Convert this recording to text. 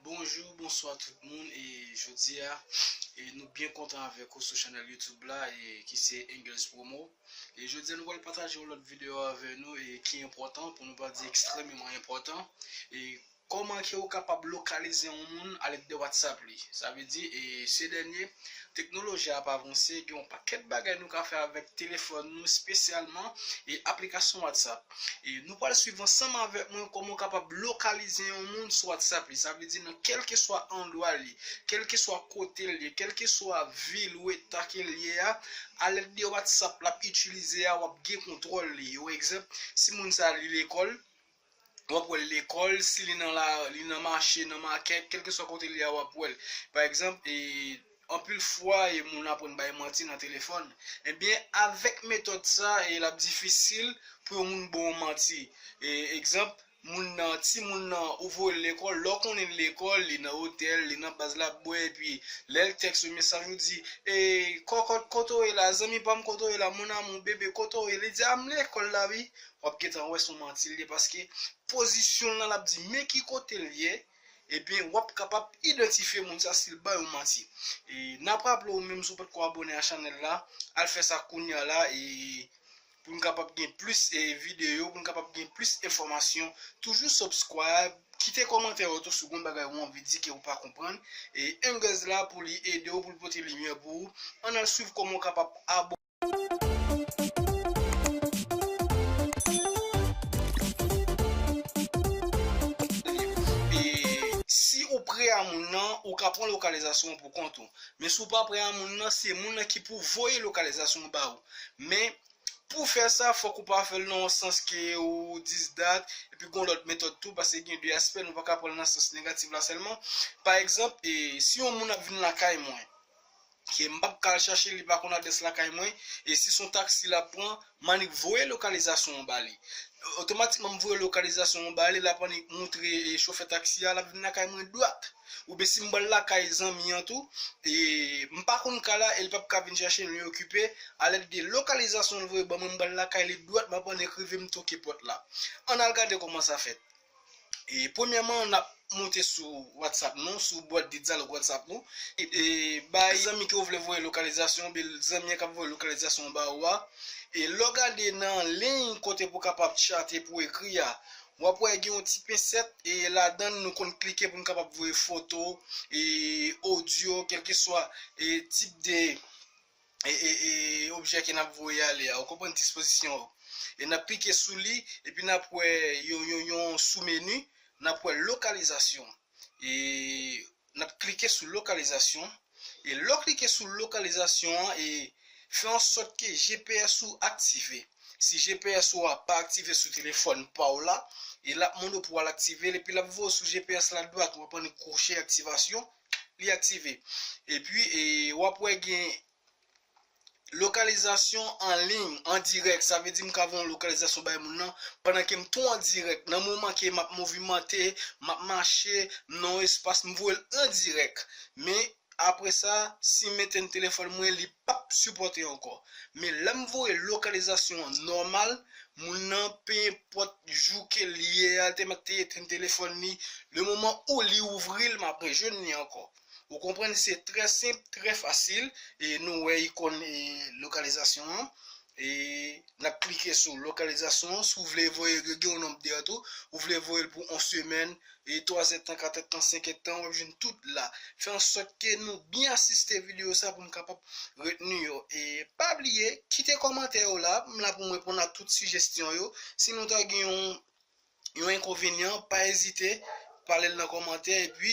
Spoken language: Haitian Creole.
Bonjou, bonswa tout moun e jodi a nou byen kontan avèk ou sou chanèl youtube la e ki se Engles Promo e jodi a nou pral pataje yon lòt videyo avè nou e ki enpòtan pou nou pa di ekstrememan enpòtan e Kòman ke ou kapab lokalize yon moun alèd de WhatsApp li? Sa vle di, se dènye teknoloji a ap avanse, gen yon pakèt bagay nou ka fè avèk telefòn nou, spesyalman aplikasyon WhatsApp. Nou pral swiv ansanm avèk mwen kòman ou kapab lokalize yon moun sou WhatsApp li. Sa vle di nan kèlkeswa andwa li, kèlkeswa kote li ye, kèlkeswa vil ou eta ke li ye a, alèd de WhatsApp l ap itilize a, w ap gen kontwòl li. Yon egzanp, si moun sa li lekòl, wap wèl lekòl, si li nan la li nan mache, nan makèt, kèlkeswa kote li a wap wèl. Pa egzanp e anpil fwa e moun aprann bay manti nan telefòn. Ebyen avèk metòd sa e lap difisil pou yon moun baw manti. E egzanp moun nan timoun nan ou voyel lekòl, lè w konnen li lekòl, li nan otèl, li nan baz lap bwè epi lèl tèks ou mesaj ou di e kòkòt kote w ye la, zanmi pam kote w ye la, mon amour, bébé kote w ye, li di a m lekòl la wi, wap gentan wè son manti l ye paske pozisyon l nan lap di men ki kote l ye ebyen wap kapab idantifye moun sa sil bay ou manti e nap raple ou menm si w potko abone a chanèl la al fè sa kounya la e pou n kapab gen plis e videyo pou n kapab gen plis enfòmasyon toujou subscribe kite kòmantè ou tou si w gen yon bagay ou anvi di ke ou pa konprann e Engels la pou li ede w pou l pote limyè pou ou an al swiv kòman w kapab abò. E si ou prè a moun nan, ou ka pran lokalizasyon an pou kont ou. Men si ou pa prè a moun nan, se moun nan ki pou voye lokalizasyon an ba ou. Men, pou fè sa, fòk ou pa fè l nan yon sans ke ou dis dat, epi gen yon lòt metòd tou, paske gen de aspè, nou pa ka pran l nan sans negatif la sèlman. Pa egzanp, e si yon moun ap vin lakay mwen, Ke m pap ka al chache l li pa konn adrès lakay mwen e si son taxi lap pran m annik voye lokalizasyon an ba li otomatikman m voye lokalizasyon an ba li lap annik moutre chofè taxi a lap vin lakay mwen dwat oubyen si m bal lakay zanmi an tou e m pa konn ka la el pap ka vin chache m li okipe a lèt de lokalizasyon l voye ban mwen m bal lakay li dwat map annik rive m toke pòt la ann al gade kòman sa fèt. E premyèman nap moute sou WhatsApp nou, sou bwat de dyalòg WhatsApp nou, e bay zanmi ke ou vle voye lokalizasyon ou, oubyen zanmi an kap voye lokalizasyon an ba ou a, e lè w gade nan liy kote pou kapab chate pou ekri a, wap wè gen yon ti pensèt, e ladann nou konn klike pou nou kapab voye foto, e odyo, kelkeswa e tip de. objè a ke nap voye ale a, ou konprann dispozisyon yo. E nap klike sou li, epi nap wè yon sou menu, nap wè lokalizasyon. E nap klike sou lokalizasyon. E lè w klike sou lokalizasyon an, e fè an sòt ke GPS ou aktive. Si GPS ou a pa aktive sou telefòn pa w la, e lap mande w pou al aktive l, epi lap voye w sou GPS la dwat, ou ap annik kwoche aktivasyon, li aktive epi wap wè gen lokalizasyon an liy an dirèk sa vle di m ka voye yon lokalizasyon bay moun nan pandan ke m tou an dirèk nan moman ke map movimante map mache m nan yon espas m voye l an dirèk men apresa si m etèn telefòn mwen li pap sipòte ankò men lèm voye lokalizasyon an nòmal moun nan pe enpòt jou kel ye a te mèt te etenn telefòn li le moman ou li ouvril map rejwenn li ankò ou konprann se trè senp trè fasil e nou wè ikon lokalizasyon an E nap klike sou lokalizasyon an si w vle voye gen yon nonb de an tou ou vle voye l pou 1 semèn e 3 èdtan 4 èdtan 5 èdtan wap jwenn tout la fè ansòt ke nou byen asiste videyo sa pou nou kapab retni yo e pa bliye kite kòmantè yo la m la pou m reponn a tout sijestyon yo si nou ta gen yon yon enkonvenyan pa ezite pale l nan kòmantè epi